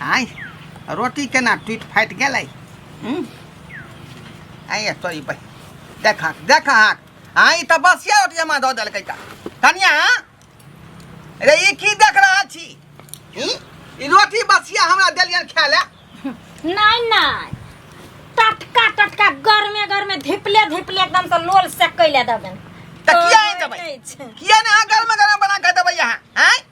आय रोटी केना टूटि फाटि गेलै हूँ आय तोरी बह देख हाक देख हाक हाँ ई तऽ बसिया रोटी हमरा दऽ देलकै तऽ कनिया रे ई की देख रहा छी ई ई रोटी बसिया हमरा देलियन खाय ले नहीं नहीं टटका टटका गर्मे गर्मे धिपले धिपले एकदम से लोल से कैले दबन तऽ किया आनि देबै किया ने अहाँ गरम गरम बना कऽ देबै अहाँ आँय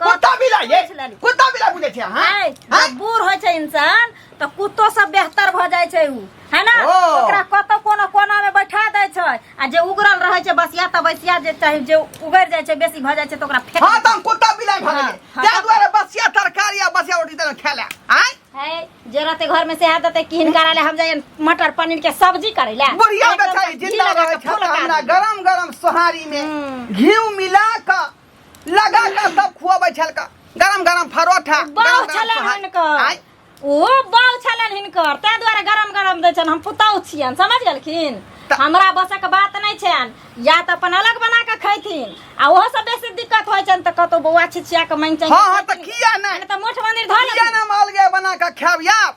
कुत्ता बिलाइ ये पूछ लेली। कुत्ता बिलाइ बुझै छै अहाँ है, हाँ? जब बूढ़ होइ छै इंसान तऽ कुत्तो सब बेहतर भऽ जाइ छै उ है ना ओ। ओकरा कतौ कोनो कोना में बैठा दै छै आ जे उगरल रहै छै बसिया तऽ बसिया जे चाहे जे उगड़ जाइ छै बेसी भऽ जाइ छै तऽ ओकरा फेक हाँ तऽ हम कुत्ता बिलाइ भऽ हाँ, गेलै हाँ, ताहि तब- दुआरे बसिया तरकारी आ बसिया रोटी देलहुँ खाय लए आँय है जे रहते घर में से है देते किन करा ले हम जाइए मटर पनीर के सब्जी करे ले बुढ़िया एकदम बेचारी घी जिंदा लगा रहै के छै फुलका हमरा दी। गरम गरम सोहारी में हम्म। घी मिला कऽ लगा के सब खुआबै छलका गरम गरम फरोठा गरम बाउ गरम छलन सोहारी। हिनकर आय, ओहो बाउ छलन हिनकर ताहि दुआरे गरम गरम दै छन हम पुतौह छियन समझ गेलखिन त- हमरा बसक बात नहि छन या तऽ अपन अलग बना कऽ खैथिन आ ओहो सब बेसी दिक्कत होइ छन तऽ कतौ बौआ छिछिया कऽ मांगि चांगि हाँ हाँ तऽ किया नहि तऽ मोठ मंदिर धऽ किया लेथिन। नहि हम अलगे बना के खायब याब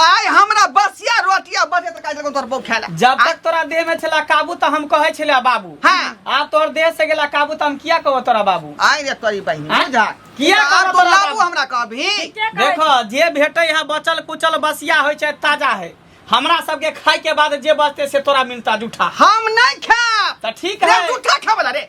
आय हमरा बसिया रोटिया बचे त काज तोर बौ खेला जब तक तोरा देह में छला काबू त हम कहै छला बाबू हां आब तोर देह से गेला काबू त हम किया कहबो तोरा बाबू आय रे तोरी बहिन बुझा किया कहबो तोरा बाबू हमरा कहबी देखो जे भेटै है बचल कुचल बसिया होय छै ताजा है हमरा सबके खाय के बाद जे बचते से तोरा मिलता जूठा हम नहीं खा त ठीक है जूठा खाबला रे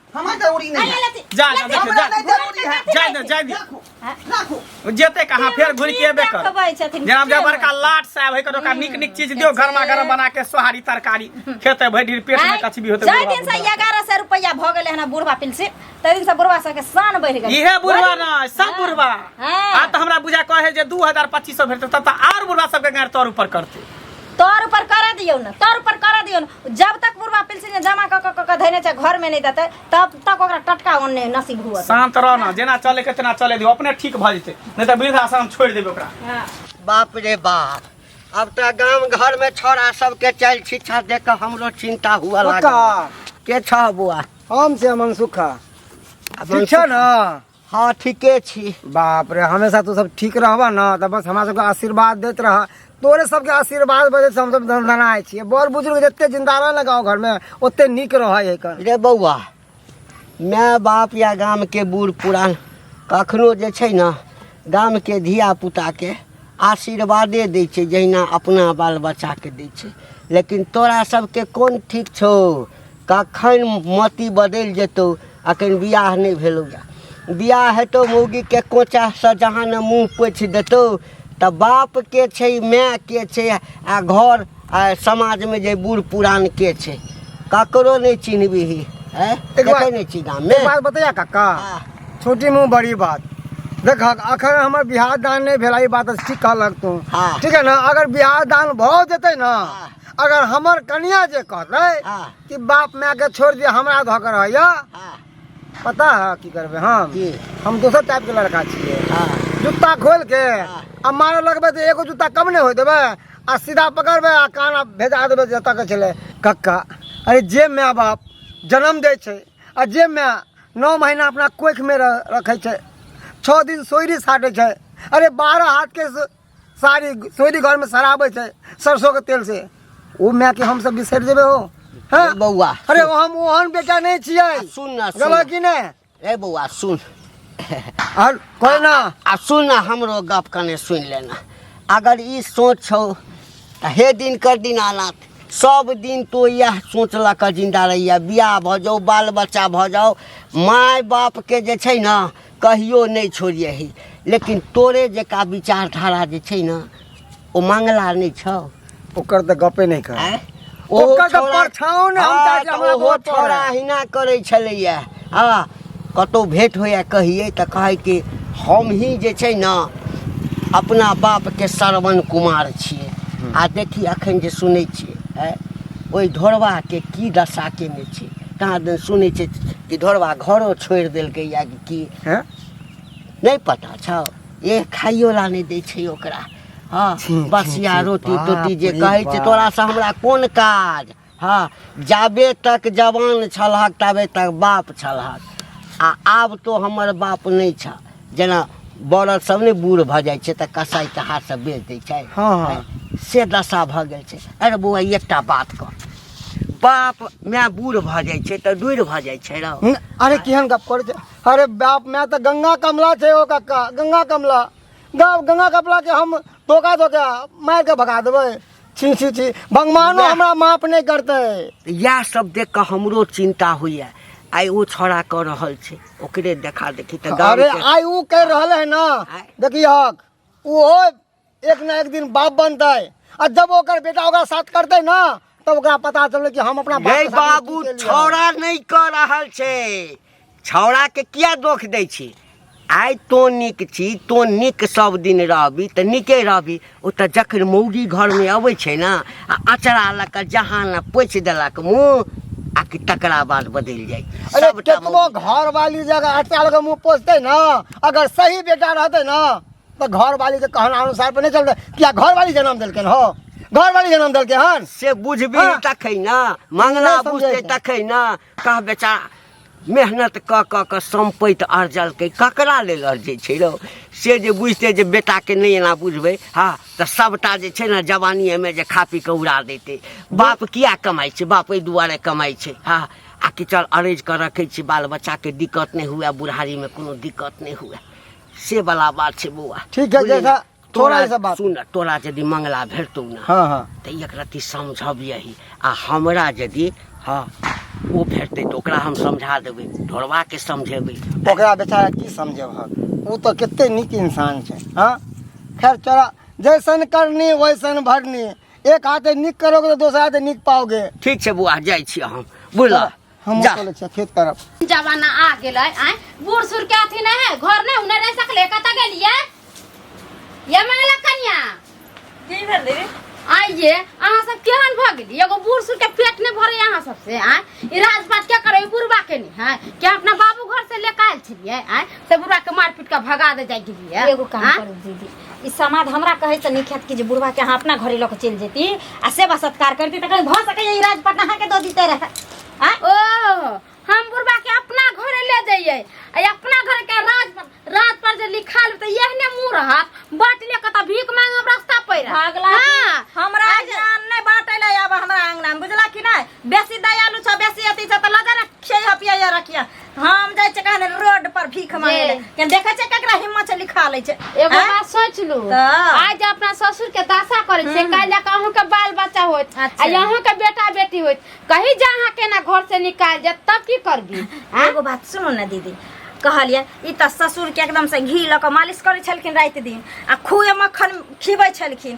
हमर जरूरी नहीं है जा जा देखो हमरा जा नहीं जरूरी है जा जा जा दे। राखो राखो जेते कहाँ फेर घुर के एबे कर खबै छथिन जनाब जे बड़का लाट साहब है ओकरा नीक नीक चीज दियो गरमा गरम बना के सोहारी तरकारी खेते भरि दिन पेट में कचबी होते जाय दिन से बुढ़वा। एगारह सौ रुपया भऽ गेलै हन बुढ़वा पेंशन ताहि दिन से बुढ़वा सबके शान बढ़ि गेलै इहे बुढ़वा न सब हाँ। बुढ़वा हाँ। आ तऽ हमरा बुझा कहे जे दू हजार पच्चीस सौ भेटतै तब तऽ आर बुढ़वा सबके गाड़ तौर ऊपर करतै तौर ऊपर कर दियो ना तौर ऊपर कर दियो ना जब तक बुढ़वा पेंशन जमा क क- क क धैने छै घर में नहीं देते तब तक ओकरा टटका ओने नसीब हुआ शांत रह ना जेना चले के तेना चले दियो अपने ठीक भ जेते नहीं तो वृद्धाश्रम छोड़ देबे ओकरा हाँ। बाप रे बाप अब तो गांव घर में छोरा सबके चल शिक्षा दे के हमरो चिंता हुआ लागल के छ बुआ हम से मन सुखा शिक्षा ना हाँ ठीके छी बाप रे हमेशा तू सब ठीक रहब न तऽ बस हमरा सबके आशीर्वाद देत रह तोरे सबके आशीर्वाद वजह से हम सब दनदनाय छियै बड़ बुजुर्ग जते जिंदा रहे ने गाँव घर में ओते नीक रहै है कन रे बौआ माय बाप या गाम के बूढ़ पुरान कखनो जे छै ने गाम के धिया पुता के आशीर्वादे दै छै जहिना अपना बाल बच्चा के दै छै लेकिन तोरा सबके कोन ठीक छौ कखन मति बदलि जेतौ अखन बियाह नहि भेलौ बियाह हेतौ मौगीके कोचासँ जहाँ ने मुँह पोछि देतौ तऽ बाप के छै माय के छै आ घर आ समाजमे जे बूढ़ पुरान के छै ककरो नहि चिन्हबिही है ककरो नहि चिन्हा मे बात बतैया काका हाँ। छोटी मुँह बड़ी बात देख अखन हमर बिहार दान नहि भेला ई बात ठीक कहलक तू हाँ। ठीक है ना अगर बिहार दान भऽ जेतै ना हाँ। अगर हमर कनिया जे कहते हाँ। कि बाप माय के छोड़ दिया हमरा धऽ के रहैया हाँ, पता है की करबे हम की? हम दोसर टाइप के लड़का छियै हाँ, जूता खोल के हाँ। आ मारे लगबे तो एगो जूता कम नहीं हो देबे आ सीधा पकड़बे आ काना भेजा देबे जतऽ के छले कक्का अरे जे माय बाप जन्म दै छै आ जे माय नौ महीना अपना कोखिमे रह- रखै छै छओ दिन सोयरी साटै छै अरे बारह हाथके सारी तोरी घर में शराब है सरसों के तेल से वो मैं के हम सब बिसर देवे हो हाँ? ए बौआ अरे वो हम ओहन बेटा नहीं छिए आ, सुन ना सुन गलत कि नहीं ए बौआ सुन और कोई ना आ सुन ना हमरो गप कने सुन लेना अगर ई सोच छौ त हे दिन कर दिन आनात सब दिन तो यह सोच ल क जिंदा रहिया बियाह भ जाओ बाल बच्चा भ जाओ माय बाप के जे छै ना कहियो नहि छोड़िए ही लेकिन तोरे जेका विचारधारा जे छै ने ओ मंगला नहि छौ ओकर तऽ गपे नहि कर आँय? ओकर तऽ छौड़ा- परछाओं ने हम हँ, ताकि तऽ हमरा ओहो वोट पड़ै। छौड़ा अहिना करै छलैया आ कतौ भेंट होइया कहियै तऽ कहै कि हम ही जे छै ने अपना बापके श्रवण कुमार छियै आ देखी अखन जे सुनै छियै आँय, ओहि ढोरबाके की दशा केने छियै कहाँ दिन सुनै छै कि ढोरबा घरो छोड़ि देलकै या कि की हैं? नहि पता छौ ए खाइयो ला नहि दै छै ओकरा हँ छी, छी, बसिया छी, रोटी बाप तोटी जे रे कहै छै बाप। तोरा से हमरा कोन काज हँ जाबे तक जवान छलहक ताबे तक बाप छलहक आ आब तो हमर बाप नहि छ जेना बड़द सब ने बूढ़ भऽ जाइ छै तऽ कसाइ के हाथ से बेच दै छै हाँ, हाँ। से दशा भऽ गेल छै अरे बौआ एकटा बात कह बाप माय बूढ़ भऽ जाइ छै तऽ डूढ़ भऽ जाइ छै रौ हम्म, अरे केहन गप करै छै अरे बाप माय तऽ गंगा कमला छै ओ कक्का गंगा कमला गा- गंगा कमला के हम धोखा धोखा मार के भगा देबै छी छी छी भगवानो वाह। हमरा माफ नहि करतै तऽ इएह सब देख कऽ हमरो चिंता होइए आइ ओ छौड़ा कऽ रहल छै ओकरे देखा देखी तऽ गाँव अरे के- आइ ऊ कह रहल है ना आय। देखी हक ओहो एक ना एक दिन बाप बनते आ जब ओकर बेटा ओकरा साथ करते ना तब ओकरा पता चलल कि हम अपना बाप गई के साथ बाबू की केलियै। छौड़ा नहीं कर रहल छे छौड़ा के किया दोख दै छी आइ तो नीक छी तो नीक सब दिन रहबी तऽ नीके रहबी ओ तऽ जखन मौगी घरमे अबै छै ने आ अचरा लऽ कऽ जहाँ ने पोछि देलक मुँह आ कि तकरा बाद बदलि जाइ अरे सबटा केतनो मौगी। घर वाली जगह अटका लगे मुंह पोसते ना अगर सही बेटा रहते ना तो घर वाली के कहना अनुसार पर नहीं चलता क्या घर वाली जन्म दिलकन हो घर वाली जन्म दिलके हन से बुझबी हाँ। तखै ना मंगना नहीं समझे बुझते ना। तखै ना कह बेचा मेहनत क क के सम्पैत अर्जलकै ककरा लेल अर्जै छै रौ से जे बुझतै जे बेटाके नहि एना बुझबै हँ तऽ सभटा जे छै ने जवानीएमे जे खा पी कऽ उड़ा देतै बाप किया कमाइ छै बाप एहि दुआरे कमाइ छै हँ आ कि चल अरेज कऽ रखै छी बाल बच्चाके दिक्कत नहि हुए बुढ़ारीमे कोनो दिक्कत नहि हुए से वाला बात छै बौआ ठीक है, बुझलियै? जैसा- थोड़ा तोरा- ऐसा बात। सुन न, तोरा यदि मंगला भेटतौ ने हाँ हाँ तऽ एक रत्ती समझब यही आ हमरा यदि हँ ओ भेटतै तऽ ओकरा हम समझा देबै ढोरबाके समझेबै ओकरा बेचारा की समझब हम ओ तऽ कते नीक इंसान छै हाँ खैर चला जैसन करनी वैसन भरनी एक हाथे नीक करोगे तो दोसर हाथे नीक पाओगे ठीक छै बौआ जाइ छी हम बुझलऽ हम जा। चले छी खेत तरफ जमाना आ गेलै आय बूढ़ सूढ़ के अथी नहीं है घर नहीं उन्हें रह सकले कत गेलिए ये माला कन्या की भेल दीदी आइए अहाँ सब केहन भऽ गेली एगो बूढ़ सूढ़ के पेट नहीं भरे अहाँ सब से आय ई राजपाट के करे बुढ़वा के नहीं है कि अपना बाबू घर से लेके आयल छलिए आय से बुढ़वा के मारपीट के भगा दे जाय गेलिए एगो काम आँय? करू दीदी ई समाज हमरा कहै से नीक हैत कि जे बुढ़वा के अहाँ अपना घरे लऽ कऽ चलि जेती आ सेवा सत्कार करती तऽ कहीं भऽ सकैए ई राजपाट अहाँके दऽ दिते रहए आ ओ हम बुढ़बा के अपना घरे ले जाइए आ अपना घर के राज राज पर जे लिखाल त एहने मुंह रहत बाट ले कत भीख मांग हम रास्ता पर भागला हां हमरा ज्ञान नहि बाँटै लए आब हमरा अंगना बुझला कि नहि बेसी दयालु छ बेसी अथी छ तऽ लगा ने खेय हपिया रखिया हम जाइ छै कहने रोड पर भीख मांगे ले के देखै छै केकरा हिम्मत से लिखा लै छै एगो हाँ? बात सोच लू तऽ। आइ जे अपना ससुर के दासा करे छै काल्हि जाके अहूँ के बाल बच्चा होत अच्छा। आ अहूँ के बेटा बेटी होत कहीं जा अहाँ के ना घर से निकाल जात तब की करबी आँ? एगो बात सुनो ने दीदी कहलिए ई तऽ ससुर के एकदम से घी लऽ कऽ मालिश करै छलखिन राति दिन आ खूबे मक्खन खिबै छलखिन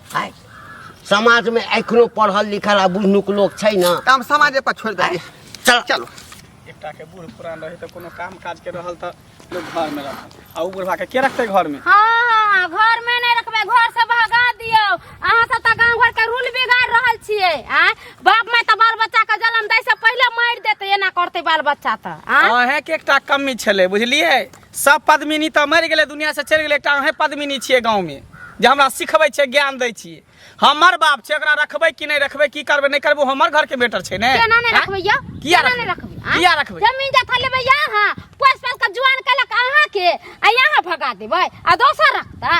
आय समाजमे एखनो पढ़ल लिखल आ बुझनुक लोक छै ने तऽ हम समाजे पर छोड़ि देलियै चल चलू एकटा के बूढ़ पुरान रहे तो कोनो काम काज के रहल तो लोग घर में रहल आ उ बुढ़वा के के रखते घर में हाँ हाँ घर में नहीं रखबे घर से भगा दियो अहाँ सब तऽ गांव घर के रूल बिगाड़ रहल छियै आ बाप माय तऽ बाल बच्चा के जन्म दै से पहिले मारि देते एना करते बाल बच्चा तऽ आ अहें के एकटा कमी छले बुझलिए सब पद्मिनी तऽ मरि गेलै दुनियासँ चलि गेलै एकटा अहेँ पद्मिनी छियै गाँवमे जे हमरा सिखबै छियै ज्ञान दै छियै हमर बाप छै ओकरा रखबै कि नहि रखबै की करबै नहि करबै ओ हमर घरके बेटर छै ने केना नहि आँय? रखबै यौ किया केना नहि रखबै रखबै आँय? किया रखबै जमीन जथा लेबै यहाँ पोस पास के जुआन कलक अहाँ के आ यहाँ भगा देबै आ दोसर रखतै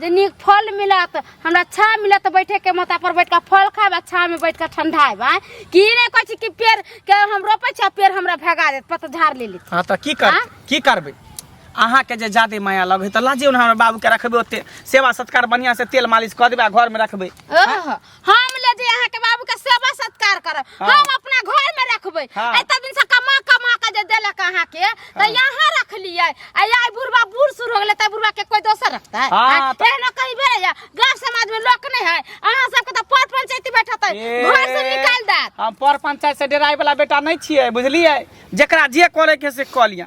जे नीक फल मिलत हमरा अच्छा मिलत बैठे के माता पर बैठ के फल खाएब अच्छा में बैठ के ठंडाएब आँय। कि ई नहि कहै छी कि पेड़ के हम रोपै छी आ पेड़ हमरा भगा देत पतझार ले लेत हाँ तऽ की कर आँ? की करबै अहाँके जे जादे माया लगै तऽ लाजियौ ने हमरा बाबूके रखबै ओते सेवा सत्कार बढ़िआँसँ तेल मालिश कऽ देबै आ घरमे रखबै ओह हम ले जे अहाँ के बाबू के सेवा सत्कार करब हाँ। हम अपना घर में रखबे हाँ। एते दिन से कमा कमा के जे देलक अहाँ के त यहाँ रख लिए आ यार बुढ़वा बूढ़ सुर हो गेले त बुढ़वा के कोई दोसर रखता है हाँ, हाँ, त- एहनो कहीं भेले या गांव समाज में लोक नहीं है अहाँ सब के त पर पंचायती बैठत है ए, घर से निकाल देत हम पर पंचायत से डेराय वाला बेटा नहीं छिए बुझलिए जकरा जे करे के से कऽ लिया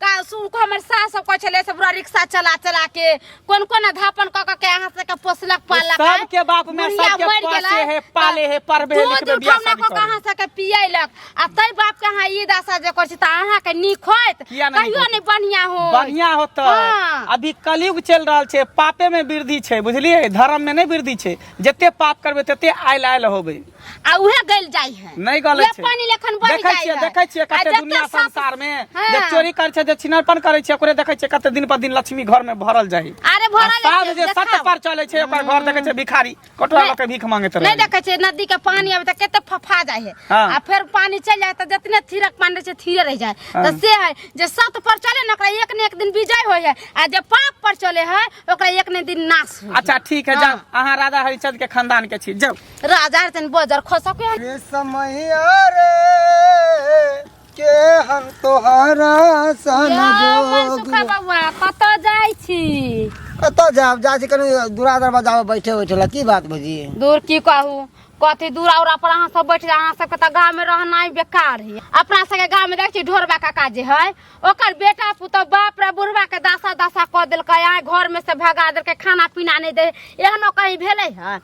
का सुन को हमर सास सब कहै छले से पूरा रिक्शा चला चला के कोन कोन अधापन क क के अहाँ से के पोसलक पालक है। सबके बाप में बुढ़िया सबके मरि पोसे गेलै, है, पाले है, पढ़बे है, दूध लिखबे, बियाह उठौना शादी क के करै। अहाँ से के पियलक आ तै बाप के अहाँ ई दशा जे करै छी त अहाँ के नीक होइत किया नहि नीक कहियो होइत? नै बढ़िया हो बढ़िया होता हाँ। अभी कलयुग चल रहा छे पापे में वृद्धि छे बुझलिए धर्म में नहीं वृद्धि छे जते पाप करबे तते आयल आयल होबे आ उहे गल जाई है नहीं गल छै पानी लेखन बढ़ जाई है देखै छियै कते दुनिया संसार में हाँ। जे चोरी कर छै जे छिनरपन कर छै ओकरे देखै छियै कते दिन पर दिन लक्ष्मी घर में भरल जाई अरे भरल साध जे सत पर चले छै ओकर घर देखै छै भिखारी कटोरा लके भीख मांगे त नहीं देखै छै नदी के पानी अब त कते फफा जाई है हाँ। आ फिर पानी चल जाए त जतने थिरक पानी रहै छै थिरे रह जाए त हाँ। से है जे सत पर चले न ओकरा एक ने एक दिन विजय होय है आ जे पाप पर चले है ओकरा एक ने दिन नाश होय अच्छा ठीक है जा अहाँ राजा हरिचंद के खानदान के छी जाओ राजा रे तनी बजर खसा के रे समैया रे के हम तोहरा सन जोग बाबा कत जाइ छी कत जाब जा छी कनी दूरा दरबा जाब बैठे बैठे ला की बात बजी दूर की कहू कथी दूर और पर अहाँ सब बैठ अहाँ सबके तऽ गाँव में रहनाइ बेकार है अपना सबके गाँव में देख छी ढोरबा काका जे है ओकर बेटा पुतौ बाप रे बुढ़वा के दासा दासा कऽ देलकै आइ घर में से भगा देलकै खाना पीना नहीं दे एहनो कहीं भेलै है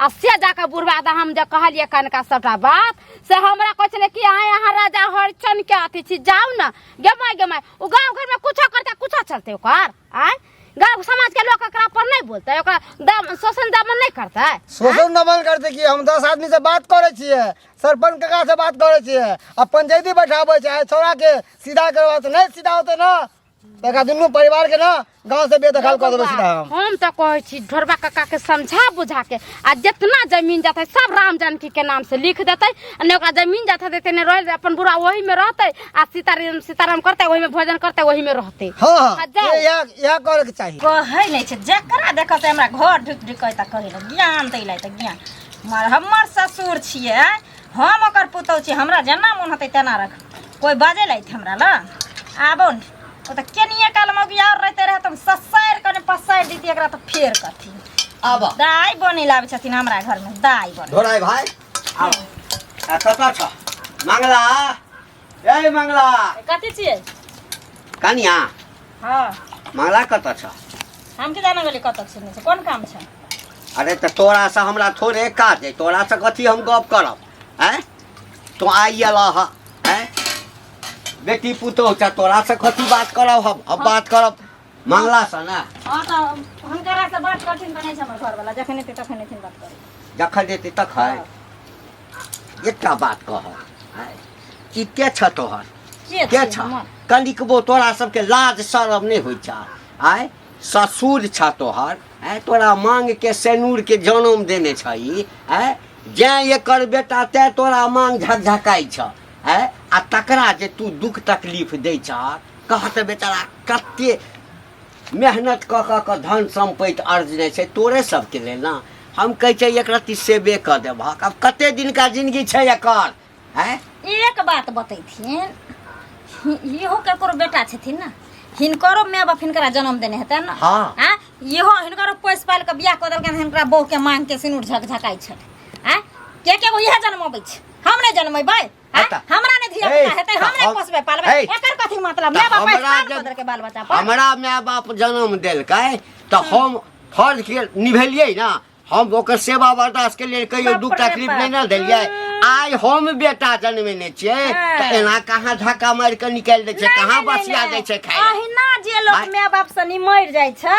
आ से जाके बुढ़वा दा हम जे कहलिए कनका सबटा बात से हमरा कहै छलै कि आय अहाँ राजा हरिचन के अथी छी जाउ ने गेमाय गेमाय ओ गाँव घर में कुछो करते कुछो चलते ओकर आय गाँव समाज के लोग एकरा पर नहीं बोलते ओकरा दम शोषण दमन नहीं करते शोषण दमन करते कि हम दस आदमी से बात करे छिए सरपंच काका से बात करे छिए आ पंचायती बैठाबे छै आ छोरा के सीधा करबा से नहीं सीधा होते ना तका दुनू परिवार के ना गांव से बेदखल कर देबे सीधा हम हम तो कहे छी ढोरबा काका के समझा बुझा के आ जितना जमीन जाते सब राम जानकी के नाम से लिख देते आ ने ओकरा जमीन जाते देते ने रह अपन बुरा वही में रहते आ सीताराम सीताराम करते वही में भोजन करते वही में रहते हां आ हां जाओ। ये यह यह करे के चाहिए कहै नहि छै जकरा देखब से हमरा घर ढुकि ढुकि तऽ कहै लए ज्ञान दै लए तऽ ज्ञान मर हमर ससुर छियै हम ओकर पुतहु छी हमरा जेना मोन होतै तेना रख कोइ बाजै लए हमरा लए आबो ने ओ तऽ केनिए काल मौगी आओर रहिते रहै तऽ हम ससारि कऽ ने पसारि दितियै एकरा तऽ फेर कथी आबऽ दाइ बनै लाबै छथिन हमरा घरमे दाइ बनै ढोराइ भाइ आबऽ आ कतऽ छ मंगला ए मंगला कथी छियै कनिया हँ मंगला कतऽ छ हम की जाना गेली कतऽ छियै नहि छै कोन काम छै अरे तऽ तोरा से हमरा थोड़े काज है तोरा से कथी हम गप करब हैं तो आई अला ह हैं बेटी पुतोह छ तोरा से कथी बात करब हम हम बात करब मंगला से ना हाँ तो हुनकरा से बात करथिन तऽ नहि छै हमर घरवला जखन एतै तखन एथिन बात करै जखन देती तक है एकटा बात कह कि के छ तोहर के के छ कनिकबो तोरा सबके लाज शरम नहि होइ छ आय ससुर छ तोहर आय तोरा मांग के सेनूर के जन्म देने छही आय जैं एकर बेटा तैं तोरा मांग झकझकाइ छ है आ तकरा जे तू दुख तकलीफ दै छह कह तऽ बेचारा कते मेहनत कऽ कऽ कऽ धन सम्पत्ति अर्जने छै तोरे सबके लेल ने हम कहै छै एक रत्ती सेबे कऽ देबहक आब कते दिनका जिनगी छै एकर है एक बात बतैथिन हि- इहो केकरो बेटा छथिन ने हिनकरो माय बाप हिनकरा जन्म देने हेतै ने हाँ। आँ? इहो हिनकरो पोसि पालि कऽ बियाह कऽ देलकनि हिनकरा बहू के मांग के सिनुर झकझकाइ छथि आँ के के गो इएह जन्मबै छै हम नहि जनमेबै हैं? अतः- हमरा नहि धिया ए, पुता हेतै हम नहि हम- पोसबै पालबै ए, एकर कथी मतलब तऽ माय बाप हमरा आशीर्वाद जब- कऽ देलकै बाल बच्चा पर हमरा माय बाप जन्म देलकै तऽ हम फर्ज के निभेलियै ना हम ओकर सेवा बर्दाश्त के लिए कहियो बाप दुख रे तकलीफ बाप। नहि ने देलियै आइ हम बेटा जन्मेने छियै हाँ। तऽ एना कहाँ धक्का मारि कऽ निकालि दै छै कहाँ बसिया दै छै खाय अहिना जे लोग आइ- माय बाप से निमर जाइ छै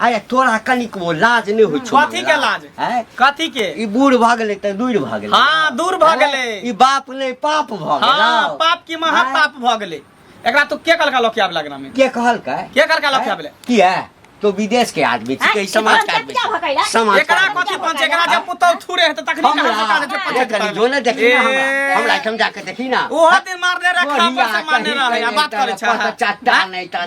अरे तोरा कनिक वो लाज नहि होइ छौ कथी के लाज हैं? कथी के ई बूढ़ भऽ गेलै तऽ दूर भऽ गेलै हाँ दूर भऽ हैं? गेलै ई बाप नहि पाप भऽ हाँ गेलै पाप की महा हाँ। पाप भऽ गेलै एकरा तू के कहलका लोकिया वाला ग्राम में के कहलकै के कहलका लोकिया वाला किया तो विदेश के आदमी छी हैं? के समाज के आदमी क्या भकै छी। ला? समाज के एकरा आदमी। कथी पंच एकरा जब पुतौ थूरे हेतै तखनी हमरा- कहाँ पता देतै पंच देखनी, पुतौ। जो ने देखी ना हमरा। ए, हमरा एहिठाम जाके देखी ना ओहो दिन मारने रहे खा पर से मारने रहे आ बात करै छै पता चट्टा नहि तऽ